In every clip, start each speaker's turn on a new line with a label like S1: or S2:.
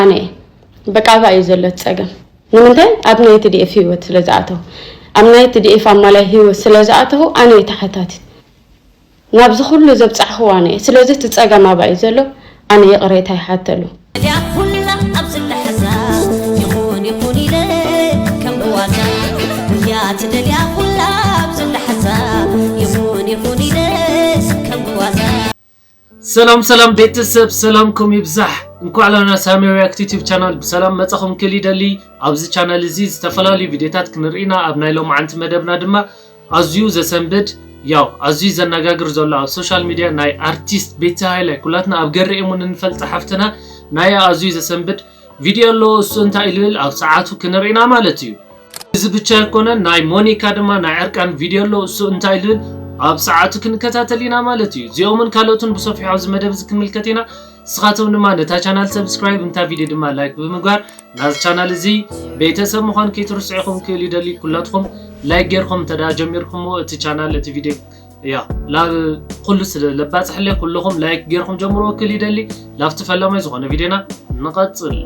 S1: ኣነ እየ በቃ ኣብኣ እዩ ዘሎ እቲ ፀገም ንምንታይ ኣብ ናይ ትዲኤፍ ሂወት ስለ ዝኣተው ኣብ ናይ ትዲኤፍ ኣማላይ ሂወት ስለ ዝኣተው ኣነ እየ ተሓታቲት ናብዚ ኩሉ ዘብፃሕኹዎ ኣነ እየ ስለዚ እቲ ፀገም ኣብኣ እዩ ዘሎ ኣነ ይቕሬታ ይሓተሉ
S2: ሰላም ሰላም ቤተሰብ ሰላምኩም ይብዛሕ እንኳዕ ላና ሳሚ ሪያክት ዩቲብ ቻናል ብሰላም መጻኹም ክል ይደሊ ኣብዚ ቻናል እዚ ዝተፈላለዩ ቪድዮታት ክንርኢና ኣብ ናይ ሎማዓንቲ መደብና ድማ ኣዝዩ ዘሰንብድ ያው ኣዝዩ ዘነጋግር ዘሎ ኣብ ሶሻል ሚዲያ ናይ ኣርቲስት ቤቲ ሃይለ ኩላትና ኣብ ገሪ እሙን እንፈልጥ ሓፍትና ናይ ኣዝዩ ዘሰንብድ ቪድዮ ኣሎ እሱ እንታይ ልብል ኣብ ሰዓቱ ክንርኢ ኢና ማለት እዩ እዚ ብቻ ኣይኮነን ናይ ሞኒካ ድማ ናይ ዕርቃን ቪድዮ ኣሎ እሱ እንታይ ልብል ኣብ ሰዓቱ ክንከታተል ኢና ማለት እዩ እዚኦምን ካልኦትን ብሰፊሑ ኣብዚ መደብ እዚ ክንምልከት ኢና ንስኻቶም ድማ ነታ ቻናል ሰብስክራይብ እንታ ቪድዮ ድማ ላይክ ብምግባር ናዚ ቻናል እዚ ቤተሰብ ምዃን ከይትርስዑ ኢኹም ክብል ይደሊ ኩላትኩም ላይክ ጌርኩም እንተ ጀሚርኩምዎ እቲ ቻናል እቲ ቪድዮ እያ ላብ ኩሉስ ለባፅሕለ ኩልኹም ላይክ ጌርኩም ጀምርዎ ክል ይደሊ ላብቲ ፈላማይ ዝኾነ ቪድዮና ንቐፅል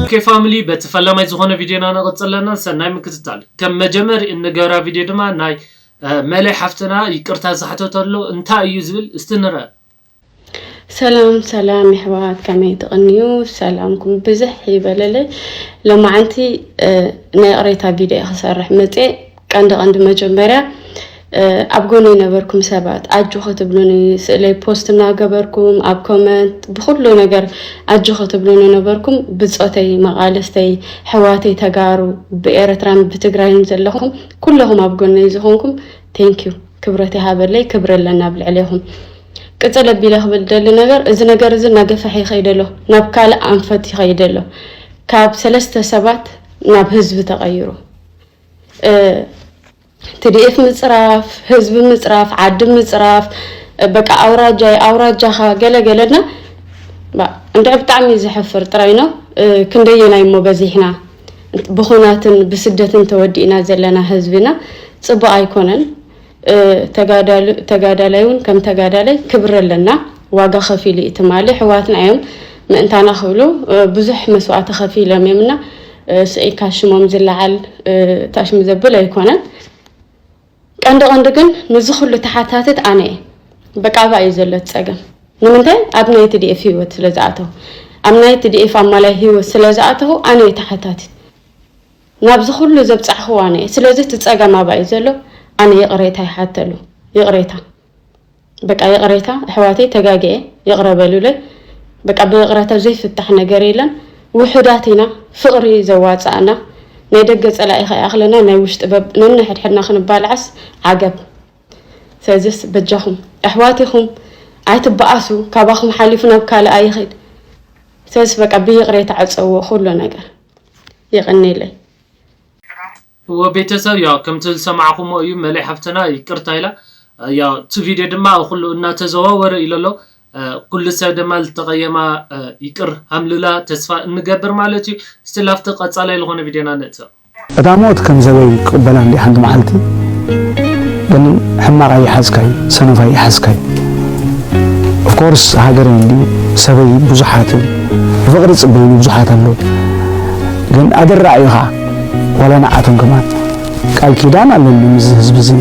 S2: ኦኬ ፋሚሊ በቲ ፈላማይ ዝኾነ ቪድዮና ንቕፅል ኣለና ሰናይ ምክትታል ከም መጀመሪ እንገብራ ቪድዮ ድማ ናይ መለይ ሓፍትና ይቅርታ ዝሓተተሎ እንታይ እዩ ዝብል እስቲ ንርአ ሰላም
S1: ሰላም የሕዋት ከመይ ትቕንዩ ሰላምኩም ብዝሕ ይበለለይ ለማዓንቲ ናይ ቕሬታ ቪድዮ ክሰርሕ መፀ ቀንዲ ቀንዲ መጀመርያ ኣብ ጎኒ ነበርኩም ሰባት ኣጆ ክትብሉኒ ስእለይ ፖስት እናገበርኩም ኣብ ኮመንት ብኩሉ ነገር ኣጆ ክትብሉኒ ነበርኩም ብፆተይ መቃልስተይ ሕዋተይ ተጋሩ ብኤረትራን ብትግራይን ዘለኹም ኩለኹም ኣብ ጎነይ ዝኾንኩም ቴንኪዩ ክብረት ይሃበለይ ክብሪ ኣለና ኣብ ልዕሌኹም ቅፅል ኣቢለ ክብል ደሊ ነገር እዚ ነገር እዚ እናገፈሐ ይኸይደ ኣሎ ናብ ካልእ ኣንፈት ይኸይደ ኣሎ ካብ ሰለስተ ሰባት ናብ ህዝቢ ተቐይሩ ትድኤፍ ምፅራፍ ህዝቢ ምፅራፍ ዓዲ ምፅራፍ በቃ ኣውራጃይ ኣውራጃኻ ገለገለና እንድዕ ብጣዕሚ ዘሕፍር ጥራይ ነው ክንደየናይ እሞ በዚሕና ብኹናትን ብስደትን ተወዲእና ዘለና ህዝቢ ኢና ፅቡቅ ኣይኮነን ተጋዳላይ እውን ከም ተጋዳላይ ክብሪ ኣለና ዋጋ ከፊሉ እዩ ትማሊ ሕዋትና እዮም ምእንታና ክብሉ ብዙሕ መስዋእቲ ከፊሎም እዮም እና ስዒካ ሽሞም ዝለዓል ታሽሚ ዘብል ኣይኮነን ቀንዲ ቀንዲ ግን ንዚ ኩሉ ተሓታትት ኣነ እየ በቃ ኣብኣ እዩ ዘሎ እቲ ፀገም ንምንታይ ኣብ ናይ tdf ሂወት ስለ ዝኣተው ኣብ ናይ tdf ኣማላይ ሂወት ስለ ዝኣተው ኣነ እየ ተሓታትት ናብዚ ኩሉ ዘብፃሕክዎ ኣነ እየ ስለዚ እቲ ፀገም ኣብኣ እዩ ዘሎ ኣነ ይቅሬታ ይሓተሉ ይቅሬታ በቃ ይቕሬታ ኣሕዋተይ ተጋጊየ ይቕረ በሉለይ በቃ ብይቕረታ ዘይፍታሕ ነገር የለን ውሑዳት ኢና ፍቕሪ ዘዋጻእና ናይ ደገ ጸላኢ ከይኣኽለና ናይ ውሽጢ በብ ነንሕድሕድና ክንባልዓስ ዓገብ ስለዚስ በጃኹም ኣሕዋት ኢኹም ኣይትበኣሱ ካባኹም ሓሊፉ ናብ ካልእ ኣይኽድ ስለዚስ በቃ ብይቕሬታ ዕጸዎ ኩሉ ነገር ይቕኒለይ
S2: እወ ቤተሰብ ያው ከምቲ ዝሰማዕኹሞ እዩ መሌ ሓፍትና ይቅርታ ኢላ ያው እቲ ቪድዮ ድማ ኣብ ኹሉ እናተዘዋወረ ኢሎ ኣሎ ኩሉ ሰብ ደማ ልተቀየማ ይቅር ሃምልላ ተስፋ እንገብር ማለት እዩ እስቲ ላፍቲ ቀጻላይ ልኾነ ቪድዮና ንእትው። እታ ሞት ከም
S3: ዘበይ ክቅበላ እንድየ ሓንቲ መዓልቲ ግን ሕማቅ ኣይሓዝካይ ሰነፍ ኣይሓዝካይ of course ሃገረይ እንድዩ ሰበይ ብዙሓት እዮም ብፍቅሪ ዝጽበዩኒ ብዙሓት ኣለዉ ግን ኣደራዕ እዩ ከኣ ዋላ ንዓቶም ከማን ቃል ኪዳን ኣለኒ ምስዚ ህዝቢ እዚ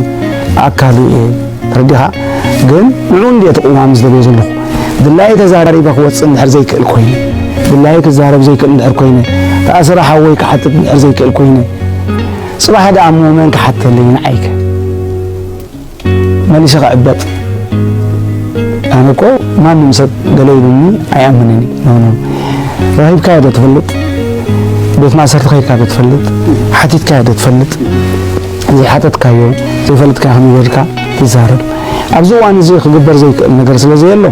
S3: ኣካሉ እየ ተረዲኻ ግን ንዑ እንድየ እቲ ቅዋም ዝደልዮ ዘለኹ ድላየ ተዛሪበ ክወፅእ እንድሕር ዘይክእል ኮይነ ድላየ ክዛረብ ዘይክእል እንድሕር ኮይነ ተኣስረ ሓወይ ክሓትት እንድሕር ዘይክእል ኮይነ ፅባሕ ደኣ እሞ መን ክሓተለይ ንዓይከ መሊሰ ክዕበጥ ኣነ እኮ ማንም ሰብ ገለ ኢሉኒ ኣይኣምንን እዩ ኖ ኖ ረኺብካዮ ዶ ትፈልጥ ቤት ማእሰርቲ ከይድካ ዶ ትፈልጥ ሓቲትካዮ ዶ ትፈልጥ ዘይሓተትካዮ ዘይፈልጥካዮ ከመይ ጌርካ ትዛረብ ኣብዚ እዋን እዚ ክግበር ዘይክእል ነገር ስለ ዘየሎ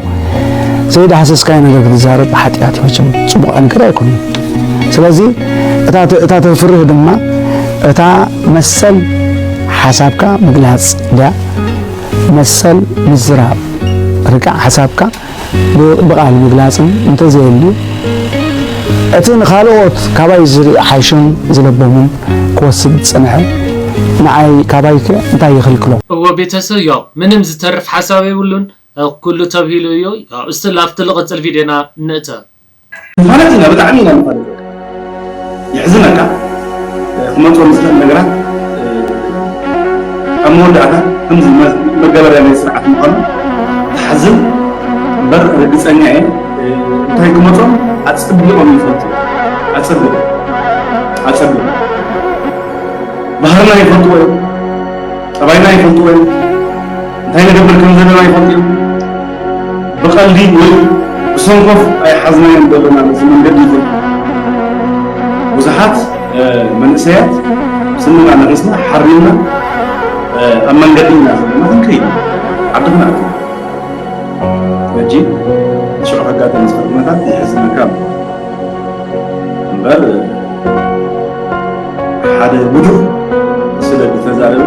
S3: ዘይዳህሰስካዮ ነገር ክትዛረብ ሓጢኣት እዩ መቸም ፅቡቕ ነገር ኣይኮነን ስለዚ እታ ተፍርህ ድማ እታ መሰል ሓሳብካ ምግላጽ ድያ መሰል ምዝራብ? ርግእ ሓሳብካ ብቓል ምግላጽን እንተዘየልዩ፣ እቲ ንኻልኦት ካባይ ዝሓሹን ዝለበሙን ክወስድ ዝጸንሐ ንዓይ ካባይከ እንታይ ይኽልክሎ? እወ ቤተሰብ
S2: ያው ምንም ዝተርፍ ሓሳብ የብሉን ኩሉ ተብሂሉ እዩ ያው እስቲ ላፍቲ ልቅፅል ቪድዮና ንእተው። ንፋለት
S4: ኢና ብጣዕሚ ኢና ንፋለት የሕዝነካ ክመፅኦም ዝኽእል ነገራት ኣብ መወዳእታ ከምዚ መገበርያ ናይ ስርዓት ምዃኑ ተሓዝን እምበር ርግፀኛ እየ እንታይ ክመፆም ኣፀቢቖም ይፈልጡ ኣፀቢቑ ኣፀቢቑ ባህርና ይፈልጥዎ እዮም ጠባይና ይፈልጥዎ እዮም እንታይ ንገብር ከም ዘለና ይፈልጡ እዮም። ብቐልዲ ወይ ብሰንኮፍ ኣይሓዝናዮም ዘለና ነዚ መንገዲ ግን ብዙሓት መንእሰያት ስንና ነቒስና ሓሪምና ኣብ መንገዲ ኢና ዘለና ክንከይድ ዓድና ሕጂ ሽዑ ከጋጠም ዝኽእል ኩነታት የሕዝነካ ኣሎ እምበር ሓደ ውዱቕ ስለ ዝተዛረበ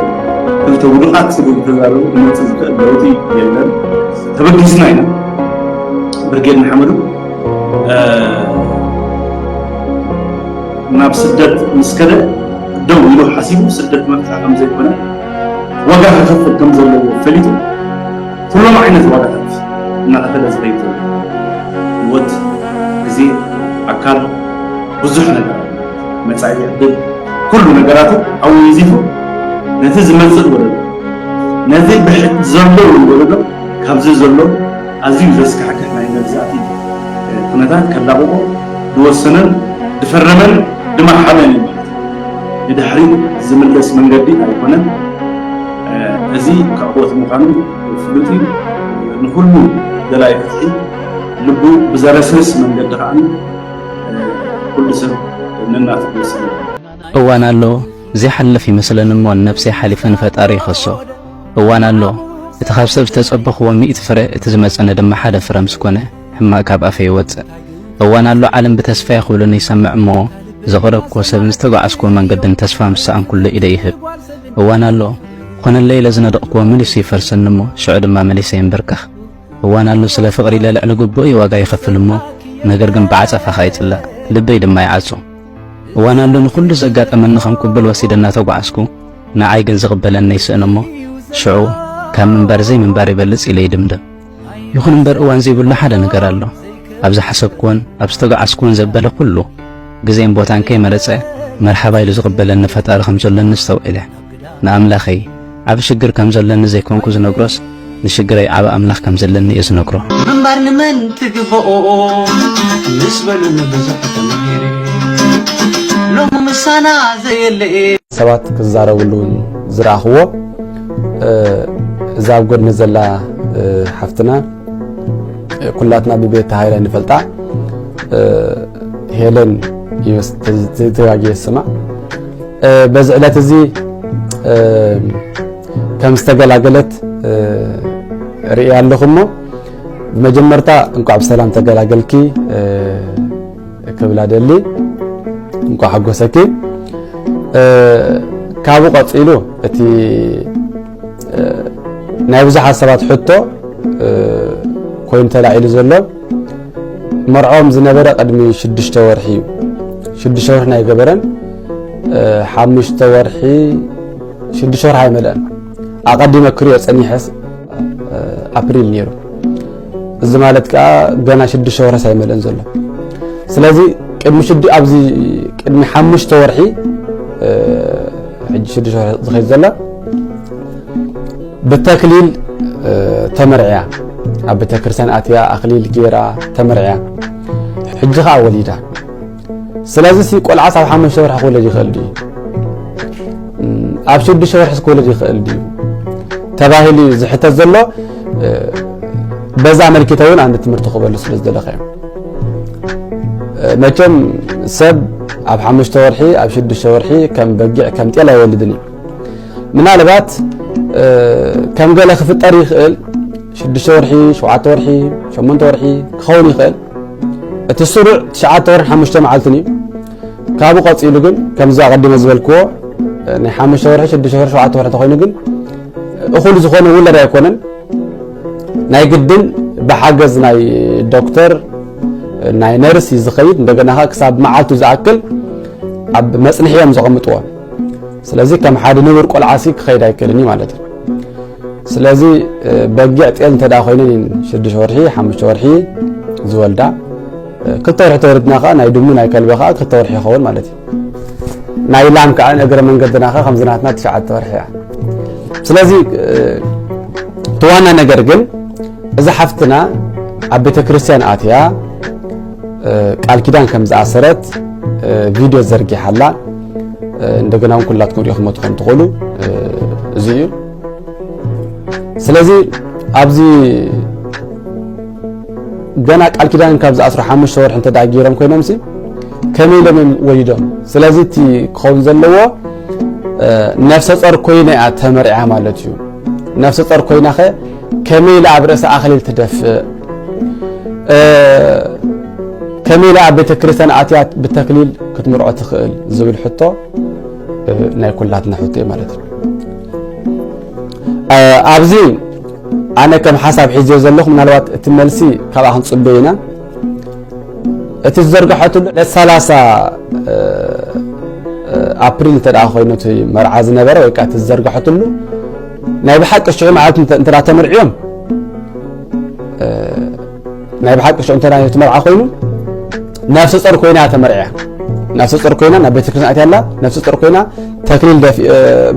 S4: ክልተ ውዱቓት ስለ ዝተዛረቡ ክመፅእ ዝኽእል ለውጢ የለን። ተበጊስና ኢና ብርጌድ ንሓመዱ ናብ ስደት ምስ ከደ ደው ኢሉ ሓሲቡ ስደት መርፃ ከም ዘይኮነ ዋጋ ክኸፍል ከም ዘለዎ ፈሊጡ ኩሎም ዓይነት ዋጋታት እናኸፈለ ዝኸይድ ዘሎ ህይወት፣ ግዜ፣ ኣካል፣ ብዙሕ ነገራት፣ መጻኢ ዕድል፣ ኩሉ ነገራቱ ኣወንዚፉ ነቲ ዝመጽእ ወለዶ፣ ነቲ ብሕቲ ዘሎ እውን ወለዶ ካብዚ ዘሎ ኣዝዩ ዘስካሕክሕ ናይ መግዛእቲ ኩነታት ከላቕቖ ዝወሰነን ዝፈረመን ዝመሓለን እዩ ማለት እዩ። ንድሕሪት ዝምለስ መንገዲ ኣይኮነን። እዚ ክዕወት ምዃኑ ፍሉጥ እዩ። ንኹሉ ደላይ ፍትሒ ልቡ ብዘረስርስ መንገዲ ከኣ ኩሉ ሰብ ነናትኡ ሰለ። እዋን ኣሎ
S5: ዘይሓልፍ ይመስለን እሞ ንነብሰይ ሓሊፈ ንፈጣሪ ይኸሶ። እዋን ኣሎ እቲ ካብ ሰብ ዝተጸበኽዎ ሚእቲ ፍረ እቲ ዝመጸኒ ድማ ሓደ ፍረ ምስ ኮነ። ሕማቅ ካብ ኣፈይ ይወጽእ እዋን ኣሎ ዓለም ብተስፋይ ክብሉኒ ይሰምዕ እሞ ዘቅረብክዎ ሰብን ዝተጓዓዝክዎ መንገድን ተስፋ ምስ ሰኣንኩሉ ኢደይ ይህብ እዋን ኣሎ ኾነለይ ኢለ ዝነደቅክዎ መሊሱ ይፈርሰኒ እሞ ሽዑ ድማ መሊሰ ይንብርከኽ እዋን ኣሎ ስለ ፍቅሪ ኢለ ልዕሊ ግቡእይ ዋጋ ይኸፍል እሞ ነገር ግን ብዓጸፋ ከኣ ይጽላእ ልበይ ድማ ይዓጹ እዋን ኣሎ ንኹሉ ዘጋጠመኒ ከም ቅቡል ወሲደ እናተጓዓዝኩ ንዓይ ግን ዝቅበለኒ ይስእን እሞ ሽዑ ካብ ምንባር ዘይምንባር ይበልጽ ኢለ ይድምድም ይኹን እምበር እዋን ዘይብሉ ሓደ ነገር ኣሎ። ኣብ ዝሓሰብክዎን ኣብ ዝተጓዓዝክዎን ዘበለ ኩሉ፣ ግዜን ቦታን ከይመረጸ መርሓባ ኢሉ ዝቕበለኒ ፈጣሪ ከም ዘሎኒ ኣስተውዒለ። ንኣምላኸይ ዓቢ ሽግር ከም ዘሎኒ ዘይኮንኩ ዝነግሮስ፣ ንሽግረይ ዓቢ ኣምላኽ ከም ዘለኒ እየ ዝነግሮ። ምንባር ንመን
S6: ትግበኦ ምስ በሉኒ ብዙሕ ተማሂረ ሎሚ ምሳና ዘየለ ሰባት ክዛረብሉ
S7: ዝረኣኽዎ እዛ ኣብ ጎድኒ ዘላ ሓፍትና ኩላትና ብቤት ሃይለ ንፈልጣ ሄለን ተጋጊ ስማዕ በዚ ዕለት እዚ ከም ዝተገላገለት ርእያ ኣለኹ እሞ ብመጀመርታ እንኳዕ ብሰላም ተገላገልኪ ክብላ ደሊ እንኳ ሓጎሰኪ ካብኡ ቀፂሉ እቲ ናይ ብዙሓት ሰባት ሕቶ ኮይኑ ተላዒሉ ዘሎ መርዖም ዝነበረ ቅድሚ ሽዱሽተ ወርሒ እዩ ሽዱሽተ ወርሒ ናይ ገበረን ሓሙሽተ ወርሒ ሽዱሽተ ወርሒ ኣይመልአን ኣቐዲመ ክሪኦ ፀኒሐስ ኣፕሪል ነይሩ እዚ ማለት ከኣ ገና ሽዱሽተ ወርሕስ ኣይመልእን ዘሎ ስለዚ ቅድሚ ሽዱ ኣብዚ ቅድሚ ሓሙሽተ ወርሒ ሕጂ ሽዱሽተ ወርሒ ዝኸይድ ዘላ ብተክሊል ተመርዕያ ኣብ ቤተክርስትያን ኣትያ ኣክሊል ጌራ ተመርዕያ ሕጂ ከዓ ወሊዳ ስለዚ ሲ ቆልዓስ ኣብ ሓሙሽተ ወርሒ ክወለድ ይኽእል ድዩ ኣብ ሽዱሽተ ወርሒስ ክወለድ ይኽእል ድዩ ተባሂሉ እዩ ዝሕተት ዘሎ በዛ መልኪተ እውን ኣንድ ትምህርቲ ክበሉ ስለ ዝደለኸ እዮም መቸም ሰብ ኣብ ሓሙሽተ ወርሒ ኣብ ሽዱሽተ ወርሒ ከም በጊዕ ከም ጤል ኣይወልድን እዩ ምናልባት ከም ገለ ክፍጠር ይኽእል ሽዱሽተ ወርሒ ሸውዓተ ወርሒ ሸሞንተ ወርሒ ክኸውን ይኽእል እቲ ስሩዕ ትሽዓተ ወርን ሓሙሽተ መዓልትን እዩ ካብኡ ቀፂሉ ግን ከምዚ ኣቐዲመ ዝበልክዎ ናይ ሓሙሽተ ወርሒ ሽዱሽተ ወርሒ ሸውዓተ ወርሒ ተኮይኑ ግን እኹል ዝኾነ ውለድ ኣይኮነን ናይ ግድን ብሓገዝ ናይ ዶክተር ናይ ነርስ እዩ ዝኸይድ እንደገና ከ ክሳብ መዓልቱ ዝኣክል ኣብ መፅንሒ እዮም ዘቐምጥዎ ስለዚ ከም ሓደ ንቡር ቆልዓሲ ክኸይድ ኣይክእልን እዩ ማለት እዩ ስለዚ በጊዕ ጤል እንተ ኮይነን እየን ሽዱሽተ ወርሒ ሓሙሽተ ወርሒ ዝወልዳ ክልተ ወርሒ ተወልድና ከዓ ናይ ድሙ ናይ ከልቢ ከዓ ክልተ ወርሒ ይኸውን ማለት እዩ ናይ ላም ከዓ እግረ መንገድና ከዓ ከምዚ ናትና ትሽዓተ ወርሒ እያ ስለዚ እቲ ዋና ነገር ግን እዛ ሓፍትና ኣብ ቤተ ክርስቲያን ኣትያ ቃል ኪዳን ከም ዝኣሰረት ቪድዮ ዘርጊሓላ እንደገና እውን ኩላትኩም ሪኢኹሞ ትኾኑ ትኾኑ እዚ እዩ ስለዚ ኣብዚ ገና ቃል ኪዳን ካብ ዝኣስሩ ሓሙሽተ ወርሒ እንተ ገይሮም ኮይኖም ሲ ከመይ ኢሎም እዮም ወሊዶም ስለዚ እቲ ክኸውን ዘለዎ ነፍሰ ፆር ኮይነ እያ ተመርዕያ ማለት እዩ ነፍሰ ፆር ኮይና ኸ ከመይ ኢላ ኣብ ርእሳ ኣኽሊል ትደፍእ? ከመይ ኢላ ኣብ ቤተ ክርስቲያን ኣትያ ብተክሊል ክትምርዖ ትኽእል? ዝብል ሕቶ ናይ ኩላትና ሕቶ እዩ ማለት እዩ። ኣብዚ ኣነ ከም ሓሳብ ሒዝዮ ዘለኹ ምናልባት እቲ መልሲ ካብኣ ክንፅበ ኢና እቲ ዝዘርጋሐትሉ ዕለት ሰላሳ ኣፕሪል እንተ ኮይኑ እቲ መርዓ ዝነበረ ወይ ከዓ እቲ ዝዘርጋሐትሉ ናይ ብሓቂ ሽዑ መዓልቲ እንተ ተመርዕዮም ናይ ብሓቂ ሽዑ እንተ ነቲ መርዓ ኮይኑ ነፍሲ ጾር ኮይና ተመርዕያ ነፍሲ ጾር ኮይና ናብ ቤተ ክርስቲያን ኣትያ ኣላ ነፍሲ ጾር ኮይና ተክሊል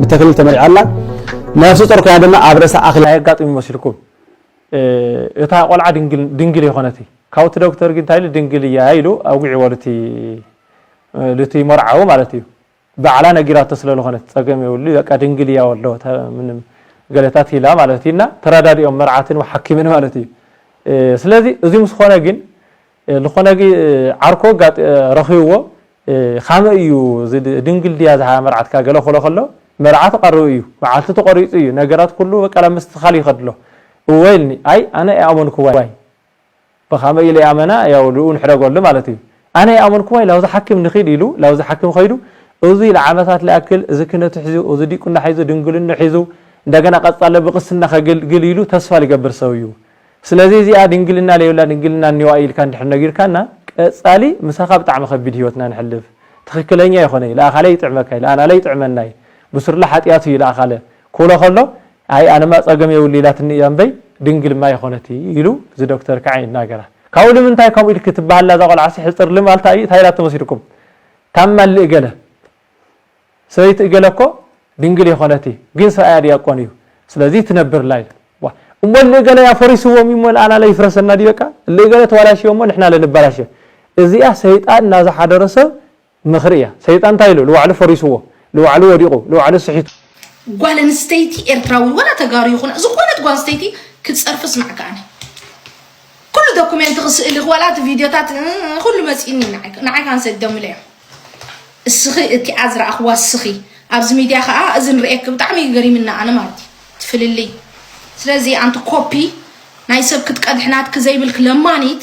S7: ብተክሊል ተመርዓ ኣላ ነፍሲ ጾር ኮይና ድማ ኣብ ርእሳ ኣኽሊ ኣየጋጥም ይመስልኩም
S8: እታ ቆልዓ ድንግል የኾነት ካብኡ እቲ ዶክተር ግን እንታይ ኢሉ ድንግል እያ ኢሉ ኣውግዕዎ ልቲ መርዓዊ ማለት እዩ ባዕላ ነጊራቶ ስለ ልኾነት ጸገም የብሉ በቃ ድንግል ኢያ ወልዶ ምንም ገለታት ኢላ ማለት እዩ እና ተራዳዲኦም መርዓትን ወሓኪምን ማለት እዩ ስለዚ እዚ ምስ ኾነ ግን ልኾነ ዓርኮ ረኺብዎ ካመይ እዩ ድንግል ድያ ዝሃ መርዓትካ ገለ ክሎ ከሎ መርዓ ተቐርቡ እዩ መዓልቲ ተቖሪጹ እዩ ነገራት ኩሉ በቃ ናብ ምስትኻል ይኸድሎ እወ ኢልኒ ኣይ ኣነ ኣይኣመንኩዋይ ብኸመይ ኢለ ኣመና ያው ልኡ ንሕደጎሉ ማለት እዩ ኣነ ኣይኣመንኩዋይ ላብዚ ሓኪም ንኺድ ኢሉ ላብዚ ሓኪም ኸይዱ እዙይ ልዓመታት ልኣክል እዚ ክነቱ ሒዙ እዚ ዲቁና ሒዙ ድንግልንኡ ሒዙ እንደገና ቀጻለ ብቅስና ኸገልግል ኢሉ ተስፋ ልገብር ሰብ እዩ ስለዚ እዚኣ ድንግልና ለይብላ ድንግልና እኒዋ ኢልካ እንድሕር ነጊርካና ቀጻሊ ምሳኻ ብጣዕሚ ኸቢድ ህይወትና ንሕልፍ ትኽክለኛ ኣይኾነይ ልኣኻለ ይጥዕመካይ ልኣናለ ይጥዕመናይ ብሱርለ ሓጥያት እዩ ልኣኻለ ክብሎ ኸሎ ኣይ ኣነማ ጸገም የብሉ ኢላትኒ እያ እምበይ ድንግልማ ኣይኾነት ኢሉ እዚ ዶክተር ክዓ ይናገራ ካብኡ ልምንታይ ከምኡ ኢልኪ ትባሃላ እዛ ቆልዓሲ ሕጽር ልም ኣልታ እዩ ታይ ኢላቶ መሲልኩም ካብ ማሊ እገለ ሰበይቲ እገለ እኮ ድንግል የኾነት እይ ግን ሰብኣያ ድያቆን እዩ ስለዚ ትነብርላ ኢላ ዋ እሞ እሊ እገለ ኣፈሪስዎም እሞ ንኣና ለይፍረሰና ድዩ በቃ እሊ እገለ ተዋላሽዮ እሞ ንሕና ለንባላሽዮ እዚኣ ሰይጣን ናዝሓደሮ ሰብ ምኽሪ እያ ሰይጣን ታይ ኢሉ ልዋዕሉ ፈሪስዎ ልዋዕሉ ወዲቁ ልዋዕሉ ስሒቱ። ጓል
S9: ኣንስተይቲ ኤርትራዊ ወላ ተጋሩ ይኹና ዝኾነት ጓል ኣንስተይቲ ክትጸርፊ ስማዕኪ ኣነ ኩሉ ዶኩሜንትኺ ስእልኺ ዋላ እቲ ቪድዮታት ኩሉ መጺኒ ንዓይ ንዓይ ካን ሰደምለዮ እስኺ እቲኣ ዝረኣኽዋ እስኺ ኣብዚ ሚድያ ከዓ እዚ ንርእየኪ ብጣዕሚ እዩ ገሪምና ኣነ ማለት እዩ እቲ ፍልልይ ስለዚ ኣንቲ ኮፒ ናይ ሰብ ክትቀድሒ ናትኪ ዘይብልኪ ለማኒት